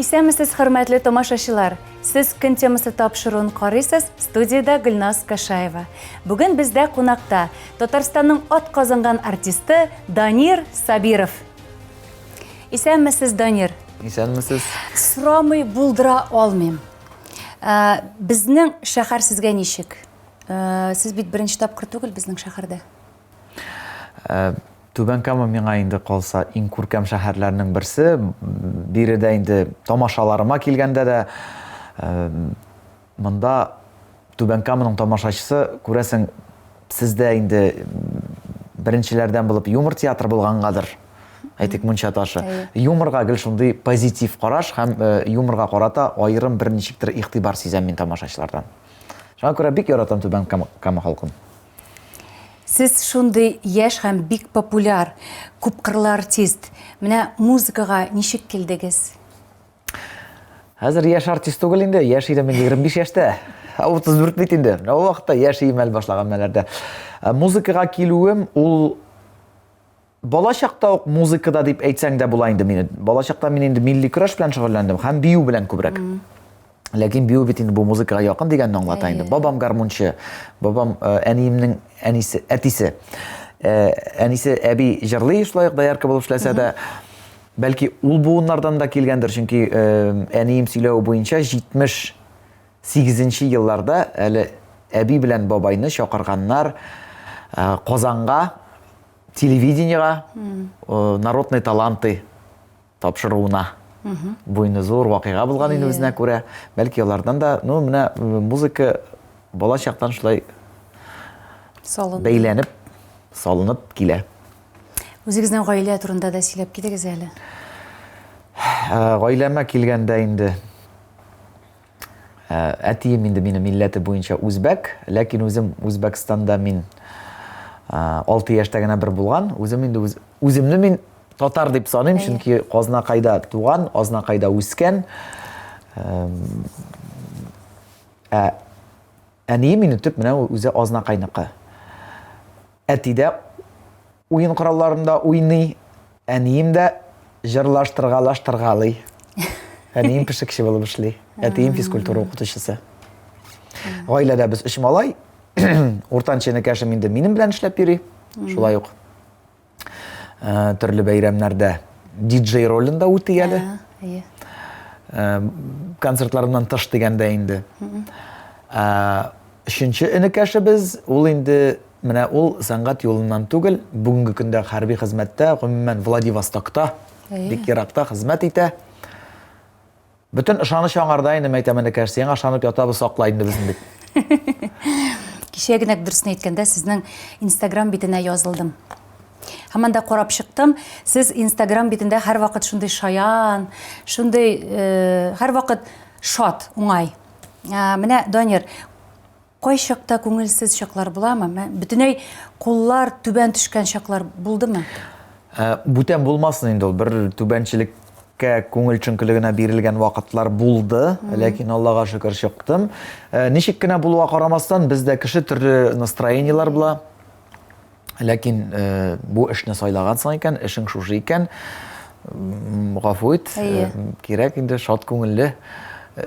Исәнмесез, хөрмәтле тамашачылар! Сез көн темасы тапшыруын карыйсыз, студиядә Гөлназ Кашаева. Бүген бездә кунакта Татарстанның ат казанган артисты Данир Сабиров. Исәнмесез, Данир! Исәнмесез! Сорамый булдыра алмыйм. Ә, Безнең шәһәр сезгә ничек? Ә, Сез бит беренче тапкыр түгел безнең шәһәрдә. Түбән Кама миңа инде калса иң күркәм шәһәрләрнең берсе. Биредә инде тамашаларыма килгәндә дә монда Түбән Каманың тамашачысы күрәсең сездә инде беренчеләрдән булып юмор театры булгангадыр. Әйтик Мунча ташы. Юморга гел шундый позитив караш һәм юморга карата аерым бер ничектер игътибар сизәм мин тамашачылардан. Шуңа күрә бик яратам Түбән Кама халкын. Сез шундый яшь һәм бик популяр, күпкырлы артист. Менә музыкага ничек килдегез? Хәзер яшь артист түгел инде, яшь идем мин 25 яшьтә. 34 бит инде. Менә ул вакытта яшь иемәл башлаган мәләрдә. Музыкага килүем ул Балачакта ук музыкада дип әйтсәң дә була инде мине. Балачакта мин инде милли көрәш белән шөгыльләндем һәм бию белән күбрәк. Ләкин бию бит инде бу музыкага якын дигәнне аңлата инде. Бабам гармунчы, бабам э, әниемнең әнисе, әтисе. Э, әнисе әби җырлый шулай ук доярка булып эшләсә дә, бәлки ул буыннардан да килгәндер, чөнки э, әнием сөйләве буенча 78 елларда әле әби белән бабайны чакырганнар Казанга телевидениега э, народный таланты тапшыруына буйны зур вакыйга булган инде үзенә күрә бәлки алардан да ну менә э, музыка бала чактан шулай салынып бәйләнеп салынып килә үзегезнең гаилә турында да сөйләп китегез әле э, гаиләмә килгәндә инде Ә, әтием инде минем милләте буенча үзбәк, ләкин үзем Үзбәкстанда мин ә, 6 яшьтә генә бер булган. Үзем инде үз, үземне мин татар дип саныйм, чөнки Казнакайда туган, Азнакайда үскән. Ә, ә әнием инде төп менә үзе Азнакайныкы. Әтидә Уен коралларында уйный, әнием дә җырлаштыргалаштыргалый. Әнием пешекче булып эшли, әтием физкультура укытучысы. Гаиләдә без өч малай. Уртанчы энекәшем инде минем белән эшләп йөри. Шулай ук э, төрле бәйрәмнәрдә диджей ролен да үти әле. Әйе. Э, концертларымнан тыш дигәндә инде. Э, Өченче энекәшебез, ул инде Менә ул сәнгать юлыннан түгел, бүгенге көндә хәрби хезмәттә, гомумән Владивостокта, бик еракта хезмәт итә. Бөтен ышаныч аңарда инде мәйтәм энекәш, сиңа ышанып ятабыз, сакла инде безне дип. Кичә генә дөресен әйткәндә сезнең Instagram битенә язылдым. Һәм анда карап чыктым, сез Instagram битендә һәрвакыт шундый шаян, шундый э, һәрвакыт шат, уңай. Ә, менә Данир, Кайчакта күңелсез чаклар буламы? Мә, бөтенләй куллар түбән төшкән чаклар булдымы? Ә, Бүтән булмасын инде ул. Бер түбәнчелеккә, күңел чөнкелегенә бирелгән вакытлар булды, ләкин Аллага шөкер чыктым. Ә, Ничек кенә булуга карамастан, бездә кеше төрле настроениеләр була. Ләкин э, бу эшне сайлагансың икән, эшең шушы икән, м, гафу ит, э, Әйе. кирәк инде шат күңелле э,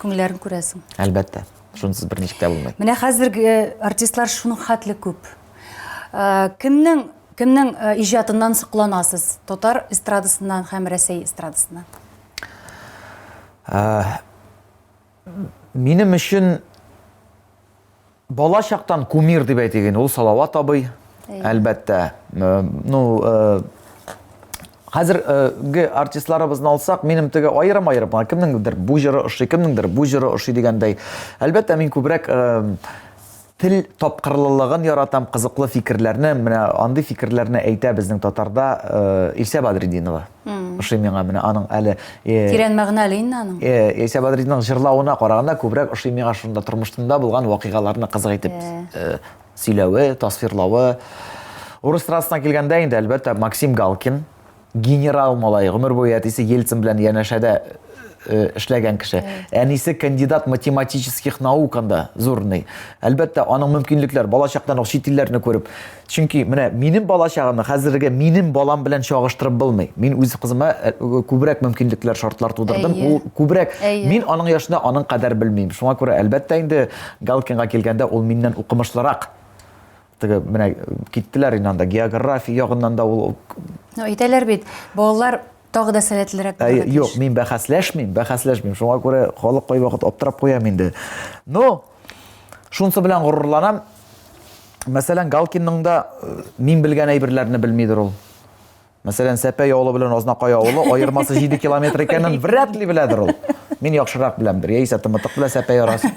Күңелләрен күрәсең. Әлбәттә. Шунсыз берничек тә булмый. Менә хәзерге э, артистлар шуның хәтле күп. Э, кемнең кемнең э, иҗатыннан сокланасыз? Татар эстрадасыннан һәм Рәсәй эстрадасыннан. Ә, минем өчен Бала чактан кумир дип әйтик инде, ул Салават абый, әлбәттә. Ну, хәзерге артистларыбызны алсак, минем теге аерым-аерым, кемнеңдер бу җыры ошый, кемнеңдер бу җыры ошый дигәндәй. Әлбәттә, мин күбрәк тел тапкырлылыгын яратам, кызыклы фикерләрне, менә андый фикерләрне әйтә безнең татарда Илсә Бадретдинова. Ошый миңа менә аның әле Тирән мәгънәле инде аның. Яисә Бадридның җырлавына караганда күбрәк ошый миңа шунда тормышында булган вакыйгаларны кызык итеп сөйләве, тасвирлавы. Урыс страсына килгәндә инде, әлбәттә, Максим Галкин, генерал малай, гомер буе әтисе Ельцин белән янәшәдә эшләгән кеше. Әнисе кандидат математических науканда зурный. Әлбәттә, аның мөмкинлекләр балачактан ук чит илләрне күреп, Чөнки менә минем балачагымны хәзерге минем балам белән чагыштырып булмый. Мин үз кызыма э, күбрәк мөмкинлекләр, шартлар тудырдым. Әйе. Ул күбрәк Әйе. мин аның яшында аның кадәр белмим. Шуңа күрә әлбәттә инде Галкинга килгәндә ул миннән укымышлырак. Теге менә киттеләр инде анда география ягыннан да ул Ну, әйтәләр бит, балалар Тагы да сәләтлерәк булырга тиеш. Юк, мин бәхәсләшмим, бәхәсләшмим. Шуңа күрә халык кайвакыт аптырап куям инде. Но шунсы белән горурланам. Мәсәлән, Галкинның да э, мин белгән әйберләрне белмидер ул. Мәсәлән, Сәпәй авылы белән Азнакай авылы аермасы 7 километр икәнен вряд ли беләдер ул. Мин яхшырак беләмдер. Яисә тымытык белән Сәпәй арасы.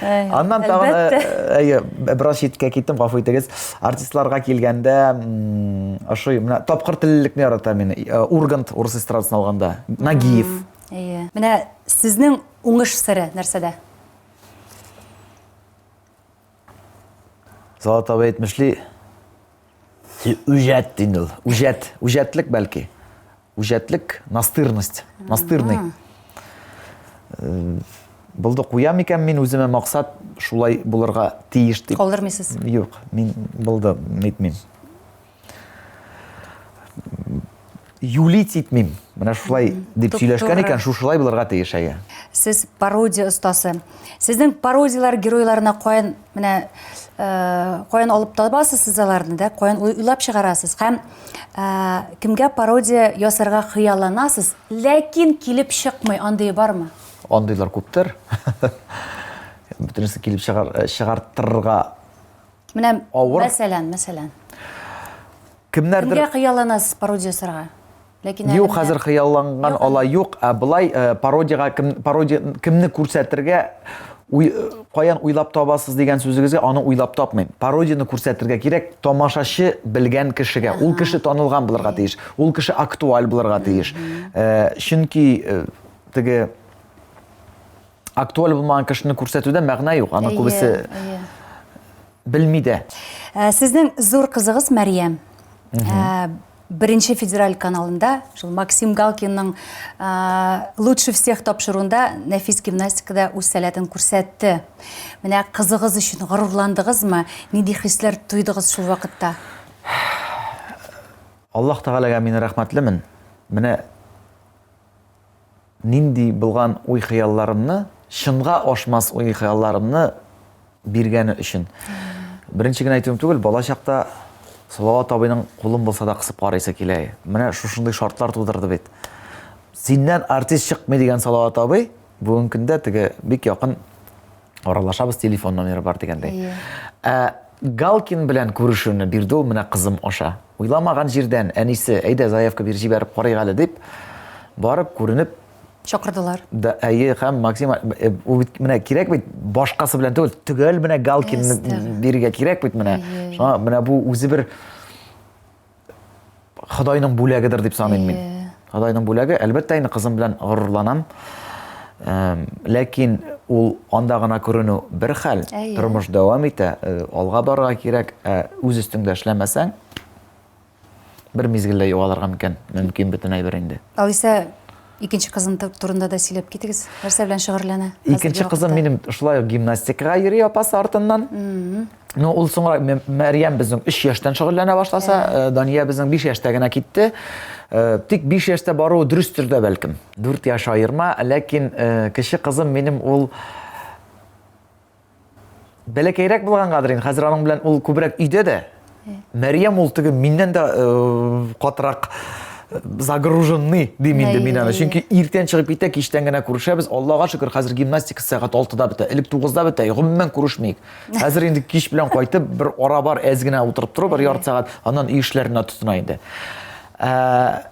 Аннан тагын э, э, әйе, бераз читкә киттем, гафу итегез. Артистларга килгәндә, ошый, менә тапкыр теллелекне ярата мин. Э, Ургант урыс эстрадасын алганда, Нагиев. Әйе. Менә сезнең уңыш сыры нәрсәдә? Салат абый әйтмешли, үҗәт дин ул. Үҗәт, үҗәтлек бәлки. Үҗәтлек, настырность, настырный. Э, Булды куям икән мин үземә максат шулай булырга тиеш дип. Калдырмыйсыз? Юк, мин булды, нитмим. юлить итмим менә шулай дип сөйләшкән икән шушылай булырга тиеш әйе сез пародия остасы сезнең пародияләр геройларына каян менә э, каян алып табасыз сез аларны да каян уйлап чыгарасыз һәм э, кемгә пародия ясарга хыялланасыз ләкин килеп чыкмый андый бармы андыйлар күптер бөтенесе килеп чыгар э, чыгартырга Менә авыр. Мәсәлән, мәсәлән. Кемнәрдер Кемгә хыялланасыз пародия ясарга? Ләкин Юк, хәзер хыялланган ала юк, ә былай э, пародиягә кем пародия кемне күрсәтергә уй, э, каян уйлап табасыз дигән сүзегезгә аны уйлап тапмыйм. Пародияне күрсәтергә кирәк тамашачы белгән кешегә. Ул кеше танылган булырга тиеш, ул кеше актуаль булырга тиеш. Э, чөнки э, теге актуаль булмаган кешене күрсәтүдә мәгънә юк аны күбесе белми дә ә, сезнең зур кызыгыз мәриям ә, бірінші федераль каналында шул максим галкинның ә, лучше всех тапшыруында нәфис гимнастикада үз сәләтен күрсәтте менә кызыгыз өчен горурландыгызмы нинди хисләр тойдыгыз шул вакытта аллаһ тәгаләгә мин рәхмәтлемен менә Нинди булган уй-хыялларымны, чынга ашмас уй-хыялларымны биргәне өчен. Беренче генә әйтүем түгел, бала чакта Салават абыйның кулын булса да кысып карыйсы килә. Менә шушындый шартлар тудырды бит. Синнән артист чыкмый дигән Салават абый бүгенге көндә теге бик якын аралашабыз телефон номеры бар дигәндәй ә галкин белән күрешүне бирде ул менә кызым аша уйламаган җирдән әнисе әйдә заявка бир җибәреп карыйк әле дип барып күренеп чакырдылар да әйе һәм максим э, ул бит менә кирәк бит башкасы белән түгел төгәл менә галкинны бирергә кирәк бит менә шуңа менә бу үзе бер Ходайның бүләгедер дип саныйм мин. Ходайның бүләге, әлбәттә инде кызым белән горурланам. Ләкин ул анда гына күренү бер хәл, тормыш дәвам итә, э, алга барырга кирәк, ә үз өстеңдә эшләмәсәң, бер мизгелдә югалырга мөмкин, мөмкин бөтен әйбер инде. Алиса Икенче кызын турында да сөйләп китегез. Нәрсә белән шөгырьләнә? Икенче кызым минем шулай ук гимнастикага йөри апасы артыннан. Ну, ул соңра Мәрьям безнең 3 яшьтән шөгыльләнә башласа, э, Дания безнең 5 яшьтә генә китте. Э, тик 5 яшьтә баруы дөрестер дә бәлкем. 4 яшь аерма, ләкин э, кече кызым минем ул Бәләкәйрәк булгангадыр инде, хәзер аның белән ул күбрәк өйдә дә. Мәриям ул теге миннән дә э, катырак э, загруженный дим инде мин аны. Чөнки иртән чыгып китә, кичтән генә күрешәбез. Аллага шөкер, хәзер гимнастика сәгать 6-да бетә. Элек 9-да бетә, гомумән күрешмик. Хәзер инде кич белән кайтып, бер ара бар, әз генә утырып тору, бер ярты сәгать, аннан үй эшләренә тотына инде. Ә,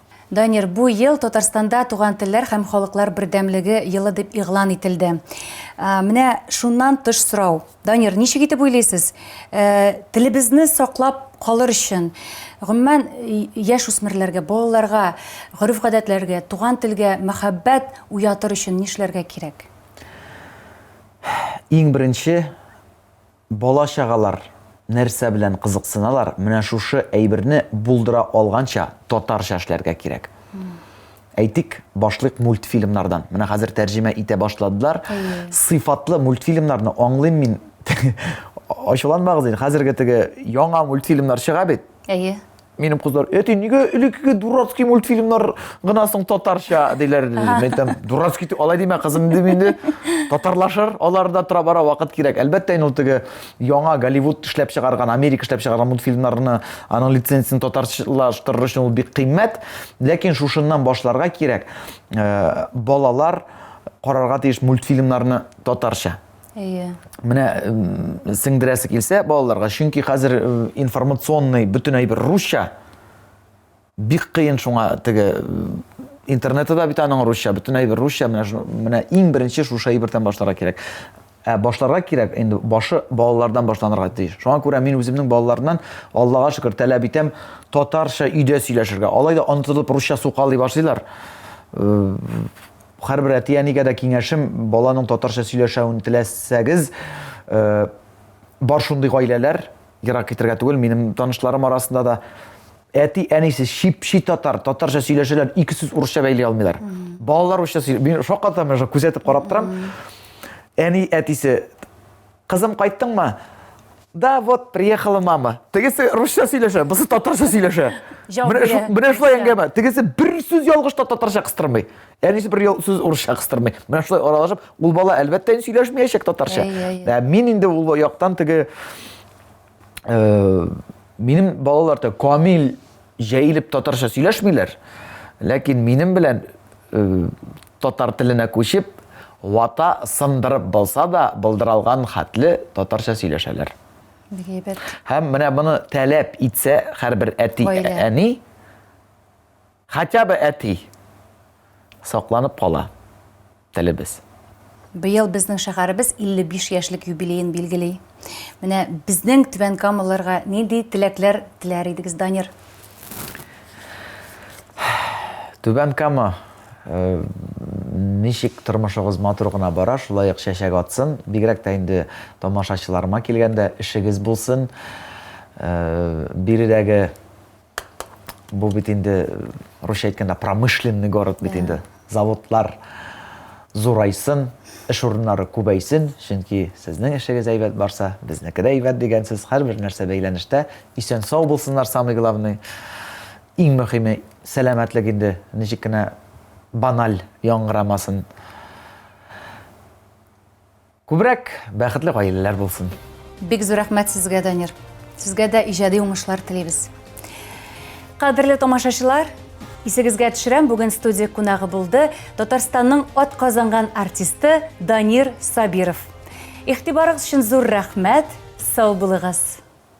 Данир, бу ел Татарстанда Туган телләр һәм халыклар бердәмлеге елы дип игълан ителде. Менә шуннан тыш сорау. Данир, ничек итеп уйлыйсыз, телебезне саклап калыр өчен, гомумән, яшь үсмерләргә, балаларга, гореф-гадәтләргә, туган телгә мәхәббәт уятыр өчен нишләргә кирәк? Иң беренче, Бала-чагалар нәрсә белән кызыксыналар, менә шушы әйберне булдыра алганча татарча эшләргә кирәк. Әйтик, башлыйк мультфильмнардан. Менә хәзер тәрҗемә итә башладылар. Сыйфатлы мультфильмнарны аңлыйм мин. Ачуланмагыз инде, хәзерге теге яңа мультфильмнар чыга бит. Әйе. Минем кызлар, әти, нигә элеккеге дурацкий мультфильмнар гына соң татарча диләр. Мин әйтәм, дурацкий дип алай димә, кызым, дим инде. Татарлашыр, аларда тора бара вакыт кирәк. Әлбәттә, инде ул теге яңа Голливуд эшләп чыгарган, Америка эшләп чыгарган мультфильмнарны, аның лицензиясен татарчалаштырыр өчен ул бик кыйммәт. Ләкин шушыннан башларга кирәк. Э, балалар карарга тиеш мультфильмнарны татарча. Әйе. Менә сеңдерәсе килсә балаларга, чөнки хәзер информационный бөтен әйбер русча. Бик кыен шуңа теге интернеты да бит аның русча, бөтен әйбер русча. Менә менә иң беренче шушы әйбердән башларга кирәк. Ә башларга кирәк, инде башы балалардан башланырга тиеш. Шуңа күрә мин үземнең балаларымнан, Аллага шөкер, таләп итәм, татарча өйдә сөйләшергә. Алай да онытылып русча сукалый башлыйлар. Һәрбер әти-әнигә дә киңәшем, баланың татарча сөйләшәвен теләсәгез, бар шундый гаиләләр, ерак китергә түгел, минем танышларым арасында да әти-әнисе чипчи татар, татарча сөйләшәләр, ике сүз урысча бәйли алмыйлар. Балалар урысча сөйли. Мин шаккатам, мин күзәтеп карап торам. Әни әтисе Кызым, кайттыңмы? Да, вот, приехала мама. Тегесе русча сөйләшә, бусы татарча сөйләшә. Менә шулай әңгәмә. Тегесе бер сүз ялгыш та татарча кыстырмый. Әнисе бер сүз урысча кыстырмый. Менә шулай аралашып, ул бала әлбәттә сөйләшмәячәк татарча. Ә мин инде ул яктан теге э, минем балалар да камил җәелеп татарча сөйләшмиләр ләкин минем белән э, татар теленә күчеп вата сындырып булса да былдыралган хәтле татарча сөйләшәләр һәм менә моны таләп итсә һәрбер әти әни Хотя бы әти сакланып кала телебез. Быел безнең шәһәребез 55 яшьлек юбилеен билгели. Менә безнең Түбән Камалыларга нинди теләкләр теләр идегез, Данир? Түбән Кама э, ничек тормышыгыз матур гына бара, шулай ук чәчәк атсын. Бигрәк тә инде тамашачыларыма килгәндә эшегез булсын. Э, биредәге Бу бит инде русча әйткәндә промышленный город бит инде. Заводлар зурайсын, эш урыннары күбәйсен, чөнки сезнең эшегез әйбәт барса, безнеке дә әйбәт дигәнсез, һәрбер нәрсә бәйләнештә. Исән сау булсыннар, самый главный. Иң мөһиме, сәламәтлек инде, ничек кенә баналь яңгырамасын. Күбрәк бәхетле гаиләләр булсын. Бик зур рәхмәт сезгә, Данир. Сезгә дә иҗади уңышлар телибез. Кадерле тамашачылар, исегезгә төшерәм, бүген студия кунагы булды Татарстанның ат казанган артисты Данир Сабиров. Ихтибарыгыз өчен зур рәхмәт, сау булыгыз.